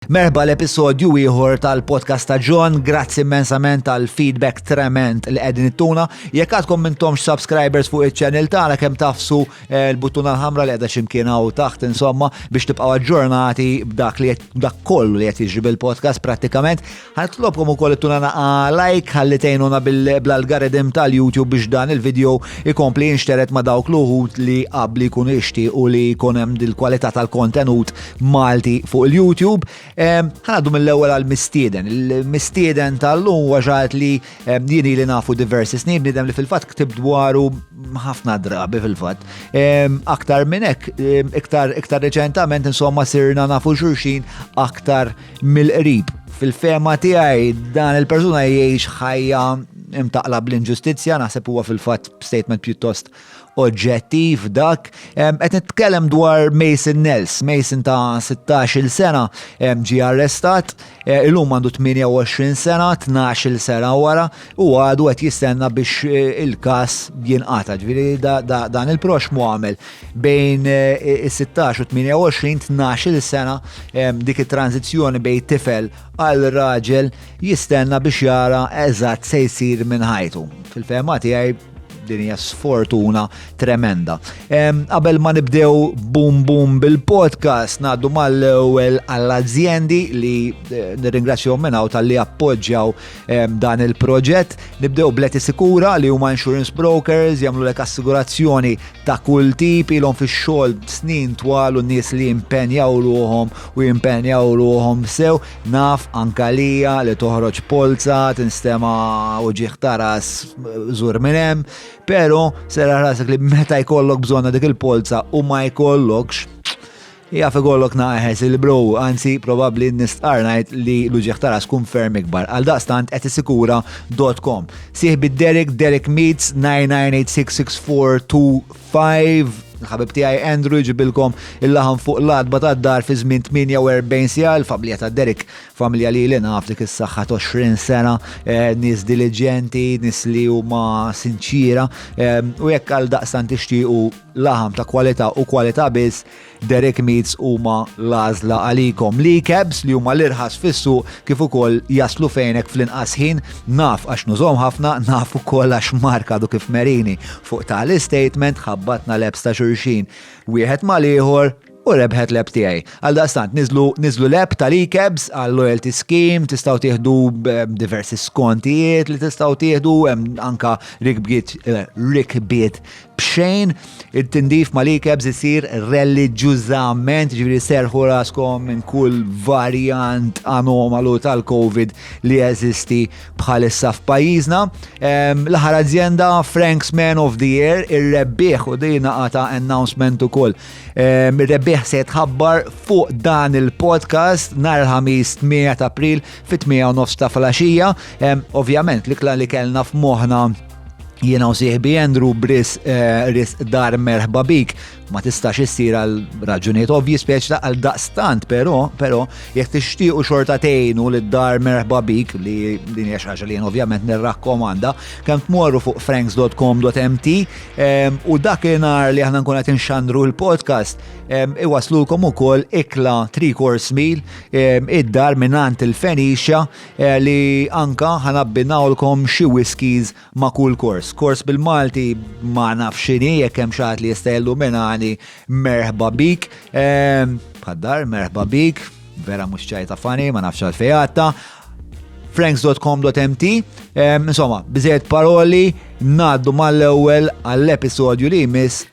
Merħba l-episodju ieħor tal-podcast ta' John, grazzi immensament tal feedback trement li qegħdin ittuna. Jekk għadkom mintomx subscribers fuq iċ-channel tagħna kemm tafsu eh, l-buttuna l-ħamra li qiegħda x'imkien hawn taħt insomma biex tibqgħu aġġornati b'dak li dak kollu li qed jiġri bil-podcast prattikament. Ħanitlobkom ukoll ittuna naqa like ħalli tgħinuna bl-algoritm tal-YouTube biex dan il-video ikompli jinxteret ma' dawk l-uħud li qabli jkunu ixti u li jkun hemm dil-kwalità tal-kontenut Malti fuq il-YouTube. Ħanaddu mill-ewwel għal mistieden. Il-mistieden tal-lum huwa xaħat li jieni li nafu diversi snin bniedem li fil-fatt ktib dwaru ħafna drabi fil-fatt. Aktar minn hekk, iktar iktar reċentament insomma sirna nafu xurxin aktar mill-qrib. Fil-fema tiegħi dan il-persuna jgħix ħajja imtaqla bl-inġustizzja, naħseb huwa fil-fatt statement pjuttost oġġettiv dak. Qed nitkellem dwar Mason Nels, Mason ta' 16-il sena ġie arrestat, e, illum għandu 28 sena, 12-il sena wara u għadu qed jistenna biex e, il-każ jinqata'. Ġifieri dan il-prox mu għamel bejn e, is-16 u 28 12-il sena dik it-tranzizzjoni bejn tifel għal raġel jistenna biex jara eżatt se jsir minn ħajtu. Fil-fema tiegħi Din hija sfortuna tremenda. Qabel ma nibdew bum bum bil-podcast ngħaddu mal-ewwel għall-azjendi li eh, nirringrazzjahom minn hawn tal-li appoġġjaw dan il-proġett. Nibdew bleti sikura li huma insurance brokers jagħmlu lek assigurazzjoni ta' kull tip ilhom fix-xogħol snin twal u nies li jimpenjaw ruhom u jimpenjaw ruhom sew Naf anke għalija li toħroġ polza tinstema' uġigħ ta' ras żur minn hemm, pero serraħ rasek li meta jkollok bżonna dik il-polza u ma jkollokx, jaf ikollok naqeħes il-bro, anzi probabbli nistqarr ngħid li l-uġigħ ta' ras tkun ferm ikbar. Għaldaqstant qed isikura dot com. Sieħbi Derek, Derek Meets 99866425. 5. Il-ħabib tiegħi Andrew jġibilkom il-laħam fuq l-adba ta' dar fi żmien 48 sija l-familja ta' Derek, familja li li naf dik is-saħħa 20 sena, eh, nies diligenti, nies li huma sinċira, eh, u jekk għal daqsan tixtiequ laħam ta' kwalità u kwalità biss, Derek Meats huma l-għażla għalikom. Li kebs li huma l-irħas fissu kif ukoll jaslu fejnek fl-inqas ħin naf għax nużhom ħafna naf ukoll għax Mark għadu kif merini fuq tali statement ħabbatna lebs ta' xulxin wieħed mal-ieħor u rebħet leb tiegħi. Għal daqstant, niżlu niżlu leb tal-ikebs għal loyalty scheme, tistgħu tieħdu eh, diversi skontijiet li tistgħu tieħdu anka rikbiet eh, rikbiet b'xejn it-tindif ma li kebs isir reliġjużament, ġifieri serħu raskom minn kull varjant anomalu tal-COVID li jeżisti bħalissa f'pajjiżna. L-aħħar azienda Frank's Man of the Year ir-rebbieħ u dina għata announcement ukoll. Ir-rebbieħ se jitħabbar fuq dan il-podcast nhar il-ħamis 8 ta' April fit-8 nofs ta' flaxija. Ovvjament, l-ikla li kellna f'moħħna Jiena u sieħbi Andrew Bris eh, ris dar merħba bik ma tistax issir għal raġunijiet ovvji speċ ta' għal daqstant, pero, pero, jek tixtiequ xorta tejnu li dar merħba bik li din hija xaġa li ovvjament nirrakkomanda, kemm tmorru fuq franks.com.mt ehm, u dak nar li aħna nkun qed inxandru l-podcast ehm, iwaslulkom ukoll ikla 3 course meal ehm, id-dar minant il-Fenicia Eja li anka ħa nabbinawlkom xi whiskies ma' kull kors. Kors bil-Malti ma naf x'inhi jekk hemm xi li jista' jilluminani merħba bik. Ehm, bħaddar merħba bik, vera mhux ċajta fani, ma nafx għalfejn franks.com.mt ehm, Insomma, biżejjed paroli ngħaddu mal-ewwel għall-episodju li jmiss